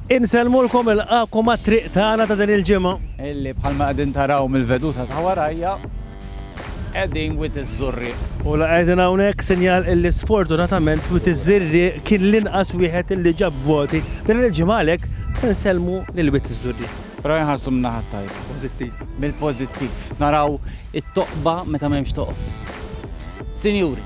Insellmulkom ilqgħakom għat-triq tagħna ta' din il-ġimgħa. Illi bħalma qegħdin taraw mill-veduta ta' warajja, qegħdin Wied iż-Żurrieq. U la qegħdin hawnhekk sinjal illi sfortunatament Wied iż-Żirrieq kien l-inqas wieħed illi ġab voti din il-ġimgħa għalhekk se nsellmu lil Wied iż-Żurrieq. Però inħarsu min-naħa t-tajba. Pożittiv. Mill-pożittiv. Naraw it-toqba meta m'hemmx toqob. Sinjuri,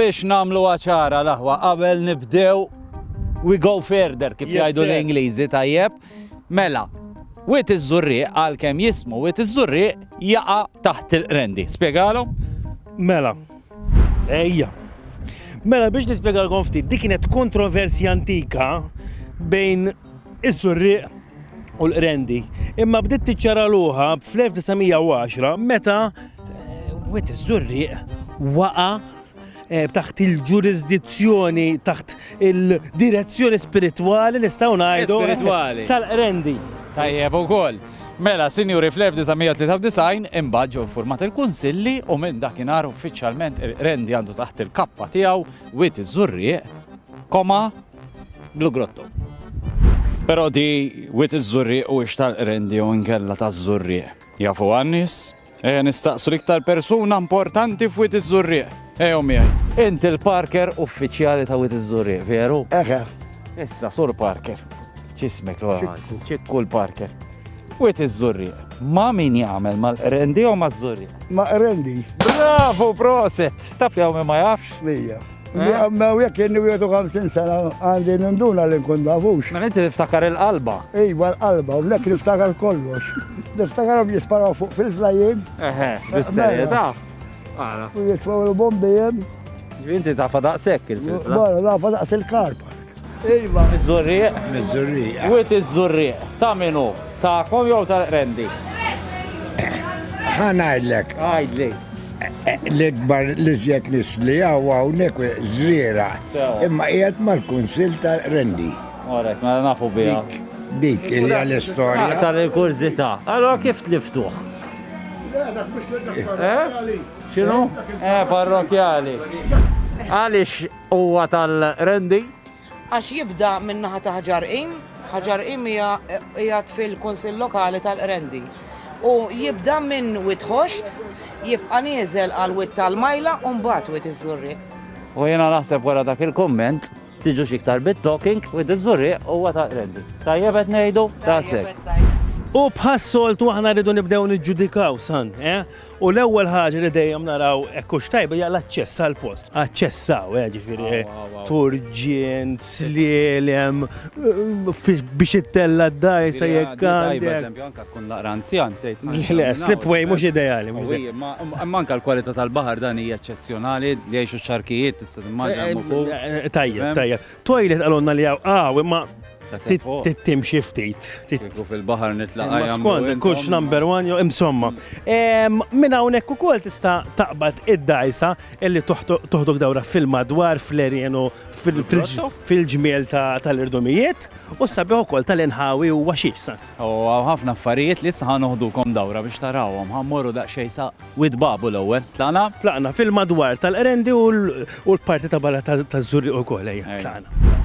biex namlu għaċara laħwa qabel nibdew we go further kif jgħidu l-Ingliżi tajjeb. Mela, wit iż-żurriq għal kem jismu wit iż-żurriq jaqa' taħt il-rendi. Spjegalhom? Mela, Ejja. Mela biex nispjegalkom ftit, dik kienet kontroversja antika bejn is-Surrieq u l-Qrendi. Imma bdiet tiċċaraluha fl-1910 meta eh, wet is-Surrieq waqa' eh, taħt il-ġurisdizzjoni, taħt il-direzzjoni spiritwali nistgħu ngħidu. Spiritwali. Tal-Qrendi. Tajjeb ukoll. Mela, sinjuri, fl-1993 imbagħad ġew iffurmat il-kunsilli u minn dakinhar uffiċjalment il-Qrendi għandu taħt il-kappa tiegħu Wied iż-Żurrieq, koma Blu Grotto. Però di Wied iż-Żurrieq huwiex tal-Qrendi jew inkella taż-Żurrieq. Jafuha n-nies? Eja nistaqsu l-iktar persuna importanti f'Wit iż-Żurrieq. Ejo miegħi. Inti l-Parker uffiċjali ta' Wit iż-Żurrieq, veru? Eħe. Issa, Sur Parker. Ċismek, ċikku l-Parker. Wit iż-Żurrieq. Ma' min jagħmel mal-qrendi jew maż-Żurrieq? Ma' qrendi. Bravo, proset! Taf li ma jafx? Mija. Mew jekk inni 50 sena għandi ninduna li nkun nafux. Ma inti niftakar il-qalba. Iva l-qalba, u nek niftakar kollox. Niftakar għom jisparaw fuq fil-flajin. Eħe, bis-serjeta. U jitfaw il-bombijem. Inti ta' fadaq sekk il-flajin. Bara, ta' fadaq il-karpa. Iva. Miż-Żurrieq. Miż-Żurrieq. Wied iż-Żurrieq. Ta' min hu? Tagħkom jew ta' Rendi? Ħa ngħidlek. Għidli. E, e, l-ikbar li żjed nisli hawn hawnhekk żriera. Imma qiegħed mal-Kunsill ta' Rendi. Orek, ma mela nafu biha. Dik hija l-istorja. Ah, Tal-kurzità. Allora kif tliftuh? Eh? X'inhu? Eh, parrokjali. Għaliex Huwa tal-Rendi. Għax jibda min-naħa ta' Ħġar Qim, Ħġar Qim hija qiegħed fil-Kunsill Lokali tal-Qrendi. U jibda minn Wied Ħoxt, jibqa' nieżel għal Wied tal-Majla u mbagħad Wied iż-Żurrieq. U jiena naħseb wara dak il-kumment, tiġux iktar bit-talking, Wied iż-Żurrieq huwa tal-Qrendi. Tajjeb qed ngħidu? Daqshekk. U bħas-soltu aħna rridu nibdew niġġudikaw, San, eh? U l-ewwel ħaġa li dejjem naraw hekk hux tajba hija l-aċċess għal post. Aċċessaw, eh, ġifieri eh, turġien, slielem, eh, biex ittella d-daj sa jekk għandek. Anka tkun naqra anzjan tgħid. Le, slipway mhux ideali. Manka l-kwalità tal-baħar dan hija eċċezzjonali li jgħixu xarkijiet tista' timmaġina Tajjeb, tajjeb. Toilet għalonna li għaw għaw, imma tittim xiftit. Tiku fil-bahar nitlaq għajam. Skond, kux number one, jo imsomma. Minna unek u kol tista taqbad id-dajsa illi toħdok dawra fil-madwar, fl-erjenu, fil-ġmiel tal-irdumijiet, u sabiħu kol tal-inħawi u waxiex. U hawn ħafna affarijiet li issa ħa noħdukom dawra biex tarawhom. Ħa mmorru daqsxejn sa Wied Babu l-ewwel. Tlaqna? Tlaqna fil-madwar tal-Qrendi u l-parti ta' barra taż-Żurrieq ukoll, ejja, tlaqna.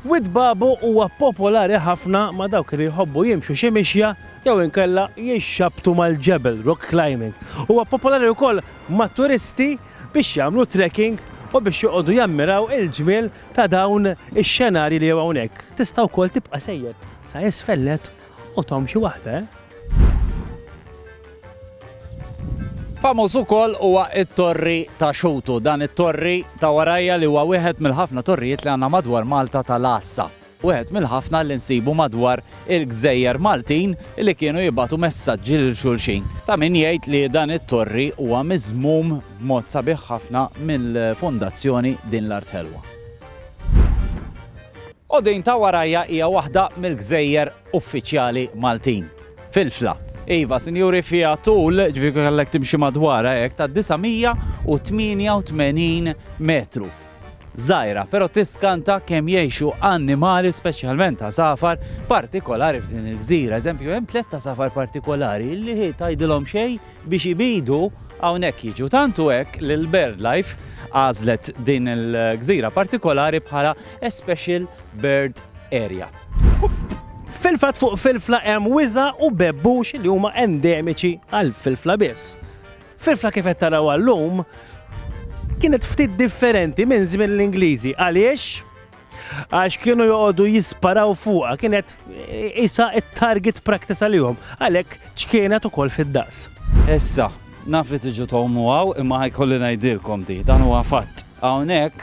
Wied Babu huwa popolari ħafna ma' dawk li jħobbu jimxu xi mixja jew inkella jixxabbtu mal-ġebel, rock climbing. Huwa popolari wkoll mat-turisti biex jagħmlu trekking u biex joqogħdu jammiraw il-ġmiel ta' dawn ix-xenarji li hawn hawnhekk. Tista' wkoll tibqa' sejjer. Sa isfel nett qothom xi waħda eh. Famuż ukoll huwa t-Torri ta' Xutu. Dan it-torri ta' warajja li huwa wieħed mill-ħafna torrijiet li għandna madwar Malta tal-għassa. Wieħed mill-ħafna li nsibu madwar il-gżejjer Maltin li kienu jibgħatu messaġġi lil xulxin. Ta' min jgħid li dan it-torri huwa miżmum b'mod sabiħ ħafna mill-fundazzjoni din l-art ħelwa. Qudin ta' Warajja hija waħda mill-gżejjer uffiċjali Maltin fil-fla. Iva, sinjuri, fiha tul, ġifieri kieku kellek timxi madwarha hekk, ta' 988 metru. Żgħira, però tiskanta kemm jgħixu annimali speċjalment għasafar partikolari f'din il-gżira. Eżempju, hemm tliet għasafar partikolari li tgħidilhom xejn, biex ibidu hawnhekk jiġu. Tant hu hekk li l-BirdLife għażlet din il-gżira partikolari bħala a special bird area. Fil-fatt fuq Filfla hemm wiża u bebbux li huma endemiċi għal Filfla biss. Filfla kif qed taraw għallum kienet ftit differenti minn żmien l-Ingliżi. Għaliex? Għax kienu joqogħdu jisparaw fuqha kienet isa it-target practice għalihom, għalhekk ċkienet ukoll fid-daqs. Issa, naf li tiġu tomu għaw imma ħajkolli ngħidilkom di, dan huwa fatt. Hawnhekk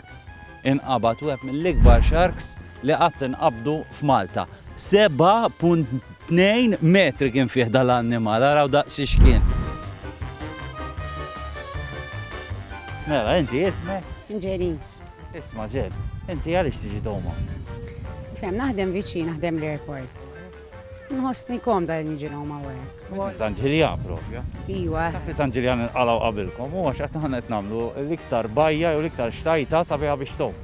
inqabad web mill-ikbar sharks li qatt inqabdu f'Malta. 7.2 metri kien fih dal-annimal, għaraw daqsi xkien. Mela, inti jisme? Ġenis. Isma' Jeff, inti għaliex tiġi doma? Tifhem, naħdem viċin, naħdem l-airport. Nħossni komda li niġi doma hekk. San Ġiljan propja. Iwa. Dak San Ġiljan inqalgħu qabilkom, u għax qed naħna qed nagħmlu l-iktar bajja jew l-iktar xtajta sabiħa biex tom.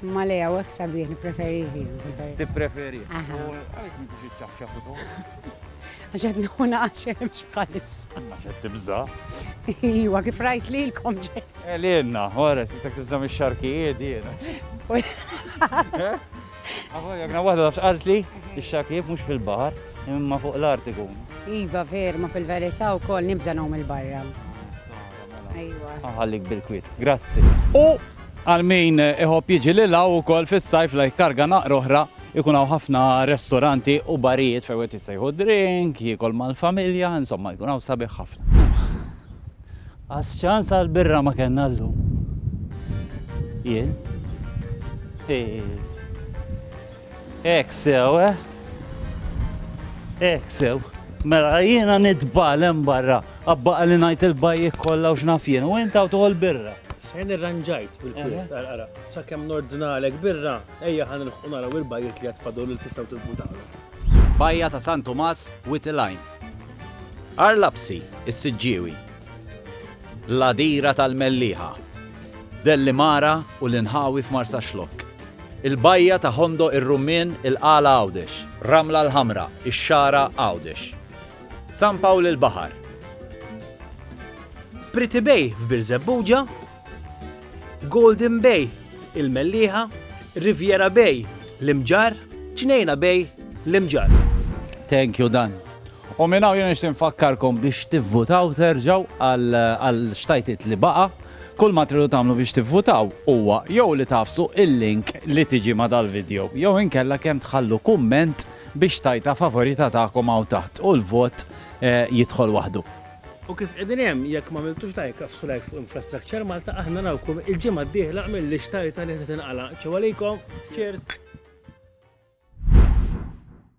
Ma le għaw hekk sabiħ nippreferi. Tippreferi. Aha. Għaliex m'intix iċċaħċaħ Għax qed nieħu naqax hemmx bħalissa. Għax qed tibża'. Iwa, kif rajt lilkom ġejt. Eh, Lilna, ora, se tek tibża' mix-xarkijiet jiena. Għafu, jekna waħda tafx qalt li, ix-xarkijiet mhux fil-baħar, imma fuq l-art ikun. Iva, ver, ma fil-verità wkoll nibża' nagħmel il-barra. Iwa. Għallik bil-kwit, grazzi. U għal min iħobb jiġi lilha wkoll fis-sajf lajk karga naqra oħra Ikun hawn ħafna restoranti u barijiet fejn wieħed jista' jieħu drink, jiekol mal-familja, insomma jkun hawn sabiħ ħafna. Qas ċans għal birra ma kellna llum. Jien? Hekk sew, eh? Hekk sew. Mela jiena nitbal hemm barra, abbaqa li ngħid il-bajjek kollha u x'naf jien, u inta u toħol birra. Sen irranġajt bil-kwiet, għara, sakemm nordnalek birra, Ejja ħa nilħqu naraw il-bajjiet li għad fadol li tistgħu tivvutalhom. Bajja ta' San Tumas, Wied il-Għajn. Għar Lapsi, is-Siġġiewi. L-Għadira tal-Mellieħa. Dellimara u l-inħawi f'Marsaxlokk. Il-Bajja ta' Ħondo ir-Rummien, il-Qala Għawdex. Ramla l-Ħamra, ix-Xagħra Għawdex. San Pawl il-Baħar. Pretty Bay f'Birżebbuġa, Golden Bay, il-Mellieħa, Riviera Bay, l-Imġarr, Ġnejna Bay, l-Imġarr. Thank you Dan. U minn hawn jien nixtieq nfakkarkom biex tivvutaw terġgħu għal xtajtit li baqa' kull ma tridu tagħmlu biex tivvutaw huwa jew li tafsu il-link li tiġi ma dal-video jew inkella kemm tħallu kumment biex tajta favorita tagħkom hawn taħt u l-vot eh, jidħol waħdu. U kif qegħdin hemm, jekk ma miltux like, afsu like fuq Infrastructure Malta, aħna nawkum il-ġimgħa d-dieħla mill-lix tajta li se tinqala. Ċew għalikom, cheers!